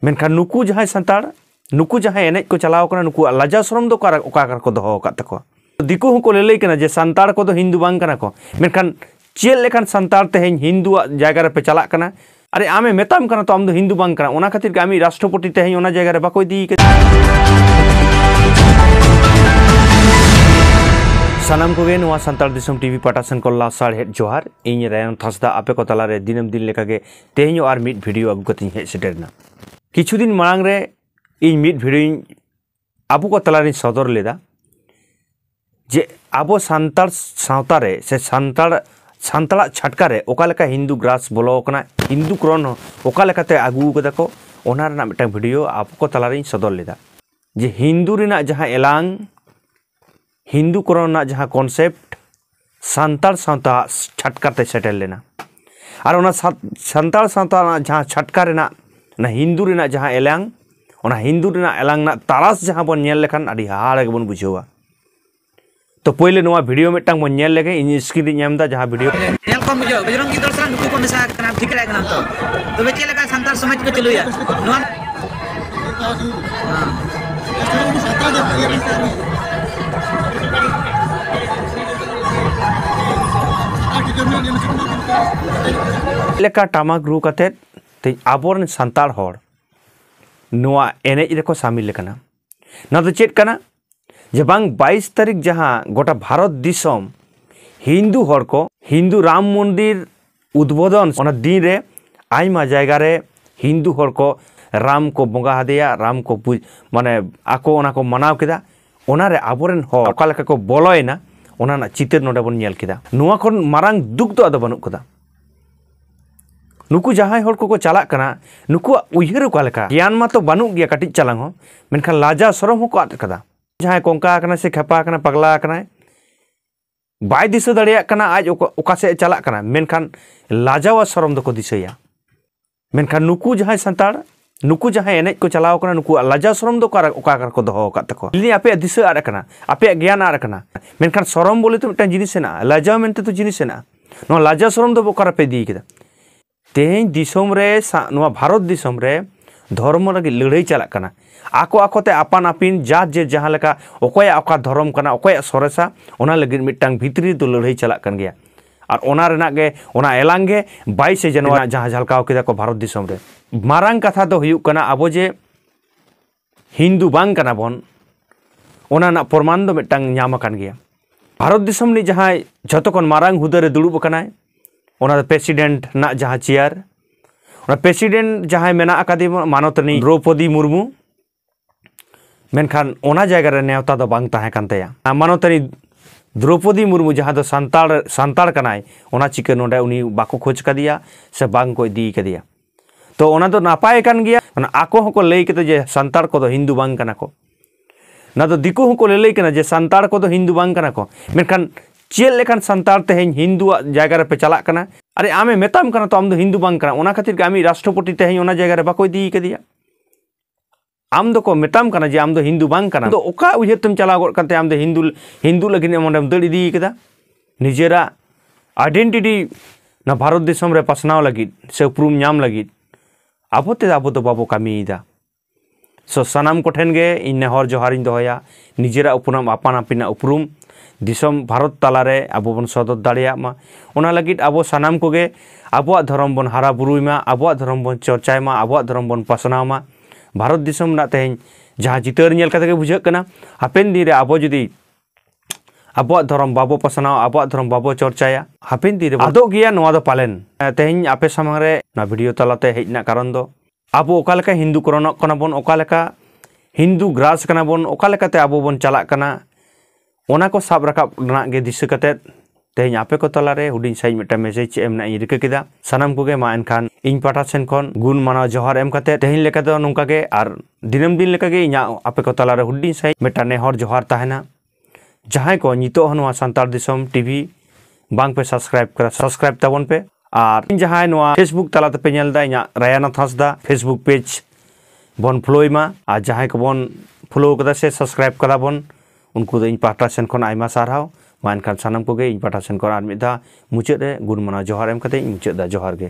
ᱢᱮᱱᱠᱷᱟᱱ ᱱᱩᱠᱩ ᱡᱟᱦᱟᱸᱭ ᱥᱟᱱᱛᱟᱲ ᱱᱩᱠᱩ ᱡᱟᱦᱟᱸᱭ ᱮᱱᱮᱡ ᱠᱚ ᱪᱟᱞᱟᱣ ᱠᱟᱱᱟ ᱱᱩᱠᱩᱣᱟᱜ ᱞᱟᱡᱟ ᱥᱚᱨᱚᱢ ᱫᱚ ᱚᱠᱟ ᱚᱠᱟ ᱨᱮᱠᱚ ᱫᱚᱦᱚ ᱟᱠᱟᱫ ᱛᱟᱠᱚᱣᱟ ᱫᱤᱠᱩ ᱦᱚᱸᱠᱚ ᱞᱟᱹᱞᱟᱹᱭ ᱠᱟᱱᱟ ᱡᱮ ᱥᱟᱱᱛᱟᱲ ᱠᱚᱫᱚ ᱦᱤᱱᱫᱩ ᱵᱟᱝ ᱠᱟᱱᱟ ᱠᱚ ᱢᱮᱱᱠᱷᱟᱱ ᱪᱮᱫ ᱞᱮᱠᱟᱱ ᱥᱟᱱᱛᱟᱲ ᱛᱮᱦᱮᱧ ᱦᱤᱱᱫᱩᱣᱟᱜ ᱡᱟᱭᱜᱟ ᱨᱮᱯᱮ ᱪᱟᱞᱟᱜ ᱠᱟᱱᱟ ᱟᱨᱮ ᱟᱢᱮ ᱢᱮᱛᱟᱢ ᱠᱟᱱᱟ ᱛᱚ ᱟᱢ ᱫᱚ ᱦᱤᱱᱫᱩ ᱵᱟᱝ ᱠᱟᱱᱟ ᱚᱱᱟ ᱠᱷᱟᱹᱛᱤᱨ ᱜᱮ ᱟᱢᱤᱡ ᱨᱟᱥᱴᱨᱚᱯᱚᱛᱤ ᱛᱮᱦᱮᱧ ᱚᱱᱟ ᱡᱟᱭᱜᱟ ᱨᱮ ᱵᱟᱠᱚ ᱤᱫᱤ ᱠᱟᱫᱮ ᱥᱟᱱᱟᱢ ᱠᱚᱜᱮ ᱱᱚᱣᱟ ᱥᱟᱱᱛᱟᱲ ᱫᱤᱥᱚᱢ ᱴᱤᱵᱷᱤ ᱯᱟᱴᱟ ᱥᱮᱱ ᱠᱚ ᱞᱟᱥᱟᱲᱦᱮᱫ ᱡᱚᱦᱟᱨ ᱤᱧ ᱨᱟᱭᱚᱱ ᱛᱷᱟᱥᱫᱟ ᱟᱯᱮ ᱠᱚ ᱛᱟᱞᱟᱨᱮ ᱫᱤᱱᱟᱹᱢ ᱫᱤᱱ ᱞᱮᱠᱟᱜᱮ ᱛᱮᱦᱮᱧ ᱟᱨ ᱢᱤᱫ ᱵᱷᱤᱰᱤᱭᱳ ᱟᱹᱜᱩ ᱠᱟᱛᱮᱧ ᱦᱮᱡ ᱥᱮᱴᱮᱨᱮᱱᱟ ᱠᱤᱪᱷᱩ ᱫᱤᱱ ᱢᱟᱲᱟᱝ ᱨᱮ ᱤᱧ ᱢᱤᱫ ᱵᱷᱤᱰᱤᱭᱳᱧ ᱟᱵᱚ ᱠᱚ ᱛᱟᱞᱟᱨᱤᱧ ᱥᱚᱫᱚᱨ ᱞᱮᱫᱟ ᱡᱮ ᱟᱵᱚ ᱥᱟᱱᱛᱟᱲ ᱥᱟᱶᱛᱟ ᱨᱮ ᱥᱮ ᱥᱟᱱᱛᱟᱲ ᱥᱟᱱᱛᱟᱲᱟᱜ ᱪᱷᱟᱴᱠᱟ ᱨᱮ ᱚᱠᱟ ᱞᱮᱠᱟ ᱦᱤᱱᱫᱩ ᱜᱨᱟᱥ ᱵᱚᱞᱚ ᱟᱠᱟᱱᱟ ᱦᱤᱱᱫᱩ ᱠᱨᱚᱱ ᱚᱠᱟ ᱞᱮᱠᱟᱛᱮ ᱟᱹᱜᱩ ᱠᱟᱫᱟ ᱠᱚ ᱚᱱᱟ ᱨᱮᱱᱟᱜ ᱢᱤᱫᱴᱟᱝ ᱵᱷᱤᱰᱤᱭᱳ ᱟᱵᱚ ᱠᱚ ᱛᱟᱞᱟᱨᱤᱧ ᱥᱚᱫᱚᱨ ᱞᱮᱫᱟ ᱡᱮ ᱦᱤᱱᱫᱩ ᱨᱮᱱᱟᱜ ᱡᱟᱦᱟᱸ ᱮᱞᱟᱝ ᱦᱤᱱᱫᱩ ᱠᱚᱨᱚᱱ ᱨᱮᱱᱟᱜ ᱡᱟᱦᱟᱸ ᱠᱚᱱᱥᱮᱯᱴ ᱥᱟᱱᱛᱟᱲ ᱥᱟᱶᱛᱟ ᱪᱷᱟᱴᱠᱟ ᱛᱮ ᱥᱮᱴᱮᱨ ᱞᱮᱱᱟ ᱟᱨ ᱚᱱᱟ ᱥᱟᱱᱛᱟᱲ ᱥᱟᱶᱛᱟ ᱨᱮᱱᱟᱜ ᱡᱟᱦᱟᱸ ᱪᱷᱟᱴᱠᱟ ᱨᱮᱱᱟᱜ ᱚᱱᱟ ᱦᱤᱱᱫᱩ ᱨᱮᱱᱟᱜ ᱡᱟᱦᱟᱸ ᱮᱞᱟᱝ ᱚᱱᱟ ᱦᱤᱱᱫᱩ ᱨᱮᱱᱟᱜ ᱮᱞᱟᱝ ᱨᱮᱱᱟᱜ ᱛᱟᱨᱟᱥ ᱡᱟᱦᱟᱸ ᱵᱚᱱ ᱧᱮᱞ ᱞᱮᱠᱷᱟᱱ ᱟᱹᱰᱤ ᱦᱟᱦᱟᱲᱟ ᱜᱮᱵᱚᱱ ᱵᱩᱡᱷᱟᱹᱣᱟ ᱛᱚ ᱯᱳᱭᱞᱳ ᱱᱚᱣᱟ ᱵᱷᱤᱰᱤᱭᱳ ᱢᱤᱫᱴᱟᱝ ᱵᱚᱱ ᱧᱮᱞ ᱞᱮᱜᱮ ᱤᱧ ᱥᱠᱨᱤᱱ ᱨᱤᱧ ᱮᱢ ᱮᱫᱟ ᱡᱟᱦᱟᱸ ᱵᱷᱤᱰᱤᱭᱳ ᱧᱮᱞ ᱠᱚᱢ ᱵᱩᱡᱷᱟᱹᱣ ᱵᱚᱡᱨᱚᱝᱜᱤ ᱫᱚᱞ ᱥᱟᱞᱟᱜ ᱱᱩᱠᱩ ᱠᱚ ᱢᱮᱥᱟ ᱟᱠᱟᱱᱟ ᱴᱷᱤᱠ ᱫᱟᱲᱮᱭᱟᱜ ᱠᱟᱱᱟᱢ ᱛᱚ ᱛᱚᱵᱮ ᱪᱮᱫ ᱞᱮᱠᱟ ᱥᱟᱱᱛᱟᱲ ᱥᱚᱢᱟᱡᱽ ᱠᱚ ᱪᱟᱹᱞᱩᱭᱟ ᱱᱚᱣᱟ ᱞᱮᱠᱟ ᱴᱟᱢᱟᱠ ᱨᱩ ᱠᱟᱛᱮᱫ ᱛᱮᱦᱮᱧ ᱟᱵᱚᱨᱮᱱ ᱥᱟᱱᱛᱟᱲ ᱦᱚᱲ ᱱᱚᱣᱟ ᱮᱱᱮᱡ ᱨᱮᱠᱚ ᱥᱟᱢᱤᱞ ᱟᱠᱟᱱᱟ ᱱᱚᱣᱟ ᱫᱚ ᱪᱮᱫ ᱠᱟᱱᱟ ᱡᱮ ᱵᱟᱝ ᱵᱟᱭᱤᱥ ᱛᱟᱹᱨᱤᱠᱷ ᱡᱟᱦᱟᱸ ᱜᱚᱴᱟ ᱵᱷᱟᱨᱚᱛ ᱫᱤᱥᱚᱢ ᱦᱤᱱᱫᱩ ᱦᱚᱲ ᱠᱚ ᱦᱤᱱᱫᱩ ᱨᱟᱢ ᱢᱚᱱᱫᱤᱨ ᱩᱫᱽᱵᱳᱫᱚᱱ ᱚᱱᱟ ᱫᱤᱱ ᱨᱮ ᱟᱭᱢᱟ ᱡᱟᱭᱜᱟ ᱨᱮ ᱦᱤᱱᱫᱩ ᱦᱚᱲ ᱠᱚ ᱨᱟᱢ ᱠᱚ ᱵᱚᱸᱜᱟ ᱟᱫᱮᱭᱟ ᱨᱟᱢ ᱠᱚ ᱢᱟᱱᱮ ᱟᱠᱚ ᱚᱱᱟ ᱠᱚ ᱢᱟᱱᱟᱣ ᱠᱮᱫᱟ ᱚᱱᱟᱨᱮ ᱟᱵᱚᱨᱮᱱ ᱦᱚᱲ ᱚᱠᱟ ᱞᱮᱠᱟ ᱠᱚ ᱵᱚᱞᱚᱭᱮᱱᱟ ᱚᱱᱟ ᱨᱮᱱᱟᱜ ᱪᱤᱛᱟᱹᱨ ᱱᱚᱰᱮ ᱵᱚᱱ ᱧᱮᱞ ᱠᱮᱫᱟ ᱱᱚᱣᱟ ᱠᱷᱚᱱ ᱢᱟᱨᱟᱝ ᱫᱩᱠ ᱫᱚ ᱟᱫᱚ ᱵᱟᱹᱱᱩᱜ ᱠᱟᱫᱟ ᱱᱩᱠᱩ ᱡᱟᱦᱟᱸᱭ ᱦᱚᱲ ᱠᱚᱠᱚ ᱪᱟᱞᱟᱜ ᱠᱟᱱᱟ ᱱᱩᱠᱩᱣᱟᱜ ᱩᱭᱦᱟᱹᱨ ᱚᱠᱟ ᱞᱮᱠᱟ ᱜᱮᱭᱟᱱ ᱢᱟᱛᱚ ᱵᱟᱹᱱᱩᱜ ᱜᱮᱭᱟ ᱠᱟᱹᱴᱤᱡ ᱪᱟᱞᱟᱝ ᱦᱚᱸ ᱢᱮᱱᱠᱷᱟᱱ ᱞᱟᱡᱟ ᱥᱚᱨᱚᱢ ᱦᱚᱸᱠᱚ ᱟᱫ ᱠᱟᱫᱟ ᱡᱟᱦᱟᱸᱭ ᱠᱚᱝᱠᱟ ᱟᱠᱟᱱᱟ ᱥᱮ ᱠᱷᱮᱯᱟ ᱟᱠᱟᱱᱟ ᱯᱟᱜᱽᱞᱟ ᱟᱠᱟᱱᱟᱭ ᱵᱟᱭ ᱫᱤᱥᱟᱹ ᱫᱟᱲᱮᱭᱟᱜ ᱠᱟᱱᱟ ᱟᱡ ᱚᱠᱟ ᱥᱮᱫ ᱪᱟᱞᱟᱜ ᱠᱟᱱᱟ ᱢᱮᱱᱠᱷᱟᱱ ᱞᱟᱡᱟᱣ ᱟᱨ ᱥᱚᱨᱚᱢ ᱫᱚᱠᱚ ᱫᱤᱥᱟᱹᱭᱟ ᱢᱮᱱᱠᱷᱟᱱ ᱱᱩᱠᱩ ᱡᱟᱦᱟᱸᱭ ᱥᱟᱱᱛᱟᱲ ᱱᱩᱠᱩ ᱡᱟᱦᱟᱸᱭ ᱮᱱᱮᱡ ᱠᱚ ᱪᱟᱞᱟᱣ ᱠᱟᱱᱟ ᱱᱩᱠᱩᱣᱟᱜ ᱞᱟᱡᱟ ᱥᱚᱨᱚᱢ ᱫᱚ ᱚᱠᱟ ᱚᱠᱟ ᱨᱮᱠᱚ ᱫᱚᱦᱚ ᱟᱠᱟᱫ ᱛᱟᱠᱚᱣᱟ ᱞᱟᱹᱭ ᱟᱯᱮᱭᱟᱜ ᱫᱤᱥᱟᱹ ᱟᱫ ᱟᱠᱟᱱᱟ ᱟᱯᱮᱭᱟᱜ ᱜᱮᱭᱟᱱ ᱟᱫ ᱟᱠᱟᱱᱟ ᱢᱮᱱᱠᱷᱟᱱ ᱥᱚᱨᱚᱢ ᱵᱚᱞᱮ ᱛᱚ ᱢᱤᱫᱴᱟᱝ ᱡᱤᱱᱤᱥ ᱦᱮᱱᱟᱜᱼᱟ ᱞᱟᱡᱟᱣ ᱢᱮᱱᱛᱮ ᱛᱚ ᱡᱤᱱᱤᱥ ᱦᱮᱱᱟᱜᱼᱟ ᱱᱚᱣᱟ ᱞᱟᱡᱟ ᱥᱚᱨᱚᱢ ᱫᱚ ᱚᱠᱟ ᱨᱮᱯᱮ ᱤᱫᱤ ᱠᱮᱫᱟ ᱛᱮᱦᱮᱧ ᱫᱤᱥᱚᱢ ᱨᱮ ᱱᱚᱣᱟ ᱵᱷᱟᱨᱚᱛ ᱫᱤᱥᱚᱢ ᱨᱮ ᱫᱷᱚᱨᱢᱚ ᱞᱟᱹᱜᱤᱫ ᱞᱟᱹᱲᱦᱟᱹᱭ ᱪᱟᱞᱟᱜ ᱠᱟᱱᱟ ᱟᱠᱚ ᱟᱠᱚᱛᱮ ᱟᱯᱟᱱ ᱟᱹᱯᱤᱱ ᱡᱟ ᱡᱮ ᱡᱟᱦᱟᱸ ᱞᱮᱠᱟ ᱚᱠᱚᱭᱟᱜ ᱚᱠᱟ ᱫᱷᱚᱨᱚᱢ ᱠᱟᱱᱟ ᱚᱠᱚᱭᱟᱜ ᱥᱚᱨᱮᱥᱟ ᱚᱱᱟ ᱞᱟᱹᱜᱤᱫ ᱢᱤᱫᱴᱟᱝ ᱵᱷᱤᱛᱨᱤ ᱫᱚ ᱞᱟᱹᱲᱦᱟᱹᱭ ᱪᱟᱞᱟᱜ ᱠᱟᱱ ᱜᱮᱭᱟ ᱟᱨ ᱚᱱᱟ ᱨᱮᱱᱟᱜ ᱜᱮ ᱚᱱᱟ ᱮᱞᱟᱝ ᱜᱮ ᱵᱟᱭᱤᱥᱮ ᱡᱟᱱᱩᱣᱟᱨᱤ ᱡᱟᱦᱟᱸ ᱡᱷᱟᱞᱠᱟᱣ ᱠᱮᱫᱟ ᱠᱚ ᱵᱷᱟᱨᱚᱛ ᱫᱤᱥᱚᱢ ᱨᱮ ᱢᱟᱨᱟᱝ ᱠᱟᱛᱷᱟ ᱫᱚ ᱦᱩᱭᱩᱜ ᱠᱟᱱᱟ ᱟᱵᱚ ᱡᱮ ᱦᱤᱱᱫᱩ ᱵᱟᱝ ᱠᱟᱱᱟ ᱵᱚᱱ ᱚᱱᱟ ᱨᱮᱱᱟᱜ ᱯᱨᱚᱢᱟᱱ ᱫᱚ ᱢᱤᱫᱴᱟᱝ ᱧᱟᱢ ᱟᱠᱟᱱ ᱜᱮᱭᱟ ᱵᱷᱟᱨᱚᱛ ᱫᱤᱥᱚᱢ ᱨᱤᱱᱤᱡ ᱡᱟᱦᱟᱸᱭ ᱡᱷᱚᱛᱚ ᱠᱷᱚᱱ ᱢᱟᱨᱟᱝ ᱦᱩᱫᱟᱹ ᱨᱮ ᱫᱩᱲᱩᱵ ᱟᱠᱟᱱᱟᱭ ᱚᱱᱟ ᱫᱚ ᱯᱨᱮᱥᱤᱰᱮᱱᱴ ᱨᱮᱱᱟᱜ ᱡᱟᱦᱟᱸ ᱪᱮᱭᱟᱨ ᱚᱱᱟ ᱯᱨᱮᱥᱤᱰᱮᱱᱴ ᱡᱟᱦᱟᱸᱭ ᱢᱮᱱᱟᱜ ᱟᱠᱟᱫᱮ ᱢᱟᱱᱚᱛ ᱨᱤᱱᱤᱡ ᱫᱨᱳᱯᱚᱫᱤ ᱢᱩᱨᱢᱩ ᱢᱮᱱᱠᱷᱟᱱ ᱚᱱᱟ ᱡᱟᱭᱜᱟ ᱨᱮ ᱱᱮᱣᱛᱟ ᱫᱚ ᱵᱟᱝ ᱛᱟᱦᱮᱸ ᱠᱟᱱ ᱛᱟᱭᱟ ᱢᱟᱱᱚᱛᱟᱹᱨᱤ ᱫᱨᱚᱯᱚᱫᱤ ᱢᱩᱨᱢᱩ ᱡᱟᱦᱟᱸ ᱫᱚ ᱥᱟᱱᱛᱟᱲ ᱥᱟᱱᱛᱟᱲ ᱠᱟᱱᱟᱭ ᱚᱱᱟ ᱪᱤᱠᱟᱹ ᱱᱚᱰᱮ ᱩᱱᱤ ᱵᱟᱠᱚ ᱠᱷᱚᱡᱽ ᱠᱟᱫᱮᱭᱟ ᱥᱮ ᱵᱟᱝ ᱠᱚ ᱤᱫᱤ ᱠᱟᱫᱮᱭᱟ ᱛᱚ ᱚᱱᱟ ᱫᱚ ᱱᱟᱯᱟᱭ ᱠᱟᱱ ᱜᱮᱭᱟ ᱚᱱᱟ ᱟᱠᱚ ᱦᱚᱸᱠᱚ ᱞᱟᱹᱭ ᱠᱮᱫᱟ ᱡᱮ ᱥᱟᱱᱛᱟᱲ ᱠᱚᱫᱚ ᱦᱤᱱᱫᱩ ᱵᱟᱝ ᱠᱟᱱᱟ ᱠᱚ ᱚᱱᱟ ᱫᱚ ᱫᱤᱠᱩ ᱦᱚᱸᱠᱚ ᱞᱟᱹᱞᱟᱹᱭ ᱠᱟᱱᱟ ᱡᱮ ᱥᱟᱱᱛᱟᱲ ᱠᱚᱫᱚ ᱦᱤᱱᱫᱩ ᱵᱟᱝ ᱠᱟᱱᱟ ᱠᱚ ᱢᱮᱱᱠᱷᱟᱱ ᱪᱮᱫ ᱞᱮᱠᱟᱱ ᱥᱟᱱᱛᱟᱲ ᱛᱮᱦᱮᱧ ᱦᱤᱱᱫᱩᱣᱟᱜ ᱡᱟᱭᱜᱟ ᱨᱮᱯᱮ ᱪᱟᱞᱟᱜ ᱠᱟᱱᱟ ᱟᱨᱮ ᱟᱢᱮ ᱢᱮᱛᱟᱢ ᱠᱟᱱᱟ ᱛᱚ ᱟᱢ ᱫᱚ ᱦᱤᱱᱫᱩ ᱵᱟᱝ ᱠᱟᱱᱟ ᱚᱱᱟ ᱠᱷᱟᱹᱛᱤᱨ ᱜᱮ ᱟᱢᱤᱡ ᱨᱟᱥᱴᱨᱚᱯᱚᱛᱤ ᱛᱮᱦᱮᱧ ᱚᱱᱟ ᱡᱟᱭᱜᱟ ᱨᱮ ᱵᱟᱠᱚ ᱤᱫᱤ ᱠᱟᱫᱮᱭᱟ ᱟᱢ ᱫᱚᱠᱚ ᱢᱮᱛᱟᱢ ᱠᱟᱱᱟ ᱡᱮ ᱟᱢ ᱫᱚ ᱦᱤᱱᱫᱩ ᱵᱟᱝ ᱠᱟᱱᱟ ᱫᱚ ᱚᱠᱟ ᱩᱭᱦᱟᱹᱨ ᱛᱮᱢ ᱪᱟᱞᱟᱣ ᱜᱚᱫ ᱠᱟᱱᱛᱮ ᱟᱢ ᱫᱚ ᱦᱤᱱᱫᱩ ᱦᱤᱱᱫᱩ ᱞᱟᱹᱜᱤᱫ ᱮᱢ ᱚᱸᱰᱮᱢ ᱫᱟᱹᱲ ᱤᱫᱤ ᱠᱟᱫᱟ ᱱᱤᱡᱮᱨᱟᱜ ᱟᱭᱰᱮᱱᱴᱤᱴᱤ ᱱᱚᱣᱟ ᱵᱷᱟᱨᱚᱛ ᱫᱤᱥᱚᱢ ᱨᱮ ᱯᱟᱥᱱᱟᱣ ᱞᱟᱹᱜᱤᱫ ᱥᱮ ᱩᱯᱨᱩᱢ ᱧᱟᱢ ᱞᱟᱹᱜᱤᱫ ᱟᱵᱚ ᱛᱮ ᱟᱵᱚ ᱫᱚ ᱵᱟᱵᱚ ᱠᱟᱹᱢᱤᱭᱮᱫᱟ ᱥᱚ ᱥᱟᱱᱟᱢ ᱠᱚᱴᱷᱮᱱ ᱜᱮ ᱤᱧ ᱱᱮᱦᱚᱨ ᱡᱚᱦᱟᱨᱤᱧ ᱫᱚᱦᱚᱭᱟ ᱱᱤᱡᱮᱨᱟᱜ ᱩᱯᱨᱩᱢ ᱟᱯᱟᱱ ᱟᱹᱯᱤᱱᱟᱜ ᱩᱯᱨᱩᱢ ᱫᱤᱥᱚᱢ ᱵᱷᱟᱨᱚᱛ ᱛᱟᱞᱟᱨᱮ ᱟᱵᱚ ᱵᱚᱱ ᱥᱚᱫᱚᱨ ᱫᱟᱲᱮᱭᱟᱜ ᱢᱟ ᱚᱱᱟ ᱞᱟᱹᱜᱤᱫ ᱟᱵᱚ ᱥᱟᱱᱟᱢ ᱠᱚᱜᱮ ᱟᱵᱚᱣᱟᱜ ᱫᱷᱚᱨᱚᱢ ᱵᱚᱱ ᱦᱟᱨᱟ ᱵᱩᱨᱩᱭ ᱢᱟ ᱟᱵᱚᱣᱟᱜ ᱫᱷᱚᱨᱚᱢ ᱵᱚᱱ ᱪᱚᱨᱪᱟᱭ ᱢᱟ ᱟᱵᱚᱣᱟᱜ ᱫᱷᱚᱨᱚᱢ ᱵᱚᱱ ᱯᱟᱥᱱᱟᱣ ᱢᱟ ᱵᱷᱟᱨᱚᱛ ᱫᱤᱥᱚᱢ ᱨᱮᱱᱟᱜ ᱛᱮᱦᱮᱧ ᱡᱟᱦᱟᱸ ᱪᱤᱛᱟᱹᱨ ᱧᱮᱞ ᱠᱟᱛᱮ ᱜᱮ ᱵᱩᱡᱷᱟᱹᱜ ᱠᱟᱱᱟ ᱦᱟᱯᱮᱱ ᱫᱤᱱ ᱨᱮ ᱟᱵᱚ ᱡᱩᱫᱤ ᱟᱵᱚᱣᱟᱜ ᱫᱷᱚᱨᱚᱢ ᱵᱟᱵᱚ ᱯᱟᱥᱱᱟᱣᱟ ᱟᱵᱚᱣᱟᱜ ᱫᱷᱚᱨᱚᱢ ᱵᱟᱵᱚ ᱪᱚᱨᱪᱟᱭᱟ ᱦᱟᱯᱮᱱ ᱫᱤᱱ ᱨᱮ ᱟᱫᱚᱜ ᱜᱮᱭᱟ ᱱᱚᱣᱟ ᱫᱚ ᱯᱟᱞᱮᱱ ᱛᱮᱦᱮᱧ ᱟᱯᱮ ᱥᱟᱢᱟᱝ ᱨᱮ ᱱᱚᱣᱟ ᱵᱷᱤᱰᱤᱭᱳ ᱛᱟᱞᱟᱛᱮ ᱦᱮᱡ ᱨᱮᱱᱟᱜ ᱠᱟᱨᱚᱱ ᱫᱚ ᱟᱵᱚ ᱚᱠᱟ ᱞᱮᱠᱟ ᱦᱤᱱᱫᱩ ᱠᱚᱨᱚᱱᱚᱜ ᱠᱟᱱᱟ ᱵᱚᱱ ᱚᱠᱟ ᱞᱮᱠᱟ ᱦᱤᱱᱫᱩ ᱜᱨᱟᱥ ᱠᱟᱱᱟ ᱵᱚᱱ ᱚᱠᱟ ᱞᱮᱠᱟᱛᱮ ᱟᱵᱚ ᱵᱚᱱ ᱪᱟᱞᱟᱜ ᱠᱟᱱᱟ ᱚᱱᱟ ᱠᱚ ᱥᱟᱵ ᱨᱟᱠᱟᱵ ᱨᱮᱱᱟᱜ ᱜᱮ ᱫᱤᱥᱟᱹ ᱠᱟᱛᱮᱫ ᱛᱮᱦᱮᱧ ᱟᱯᱮ ᱠᱚ ᱛᱟᱞᱟᱨᱮ ᱦᱩᱰᱤᱧ ᱥᱟᱺᱦᱤᱡ ᱢᱤᱫᱴᱟᱝ ᱢᱮᱥᱮᱡᱽ ᱮᱢ ᱨᱮᱱᱟᱜ ᱤᱧ ᱨᱤᱠᱟᱹ ᱠᱮᱫᱟ ᱥᱟᱱᱟᱢ ᱠᱚᱜᱮ ᱢᱟ ᱮᱱᱠᱷᱟᱱ ᱤᱧ ᱯᱟᱦᱴᱟ ᱥᱮᱱ ᱠᱷᱚᱱ ᱜᱩᱱ ᱢᱟᱱᱟᱣ ᱡᱚᱦᱟᱨ ᱮᱢ ᱠᱟᱛᱮ ᱛᱮᱦᱮᱧ ᱞᱮᱠᱟ ᱫᱚ ᱱᱚᱝᱠᱟ ᱜᱮ ᱟᱨ ᱫᱤᱱᱟᱹᱢ ᱫᱤᱱ ᱞᱮᱠᱟ ᱜᱮ ᱤᱧᱟᱹᱜ ᱟᱯᱮ ᱠᱚ ᱛᱟᱞᱟᱨᱮ ᱦᱩᱰᱤᱧ ᱥᱟᱺᱦᱤᱡ ᱢᱤᱫᱴᱟᱝ ᱱᱮᱦᱚᱨ ᱡᱚᱦᱟᱨ ᱛᱟᱦᱮᱱᱟ ᱡᱟᱦᱟᱸᱭ ᱠᱚ ᱱᱤᱛᱚᱜ ᱦᱚᱸ ᱱᱚᱣᱟ ᱥᱟᱱᱛᱟᱲ ᱫᱤᱥᱚᱢ ᱴᱤᱵᱷᱤ ᱵᱟᱝ ᱯᱮ ᱥᱟᱵᱥᱠᱨᱟᱭᱤᱵ ᱠᱟᱫᱟ ᱥᱟᱵᱥᱠᱨᱟᱭᱤᱵ ᱛᱟᱵᱚᱱ ᱯᱮ ᱟᱨ ᱡᱟᱦᱟᱸᱭ ᱱᱚᱣᱟ ᱯᱷᱮᱥᱵᱩᱠ ᱛᱟᱞᱟ ᱛᱮᱯᱮ ᱧᱮᱞ ᱫᱟ ᱤᱧᱟᱹᱜ ᱨᱟᱭᱟᱱᱟᱛᱷ ᱦᱟᱸᱥᱫᱟ ᱯᱷᱮᱥᱵᱩᱠ ᱯᱮᱡᱽ ᱵᱚᱱ ᱯᱷᱚᱞᱳᱭ ᱢᱟ ᱟᱨ ᱡᱟᱦᱟᱸᱭ ᱠᱚᱵᱚᱱ ᱯᱷᱚᱞᱳ ᱠᱟᱫᱟ ᱥᱮ ᱥᱟᱵᱥᱠᱨᱟᱭᱤᱵ ᱠᱟᱫᱟ ᱵᱚᱱ ᱩᱱᱠᱩ ᱫᱚ ᱤᱧ ᱯᱟᱦᱴᱟ ᱥᱮᱱ ᱠᱷᱚᱱ ᱟᱭᱢᱟ ᱥᱟᱨᱦᱟᱣ ᱢᱟ ᱮᱱᱠᱷᱟᱱ ᱥᱟᱱᱟᱢ ᱠᱚᱜᱮ ᱤᱧ ᱯᱟᱦᱴᱟ ᱥᱮᱱ ᱠᱷᱚᱱ ᱟᱨ ᱢᱤᱫ ᱫᱷᱟᱣ ᱢᱩᱪᱟᱹᱫ ᱨᱮ ᱜᱩᱱ ᱢᱟᱱᱟᱣ ᱡᱚᱦᱟᱨ ᱮᱢ ᱠᱟᱛᱮ ᱤᱧ ᱢᱩᱪᱟᱹᱫ ᱫᱟ ᱡᱚᱦᱟᱨ ᱜᱮ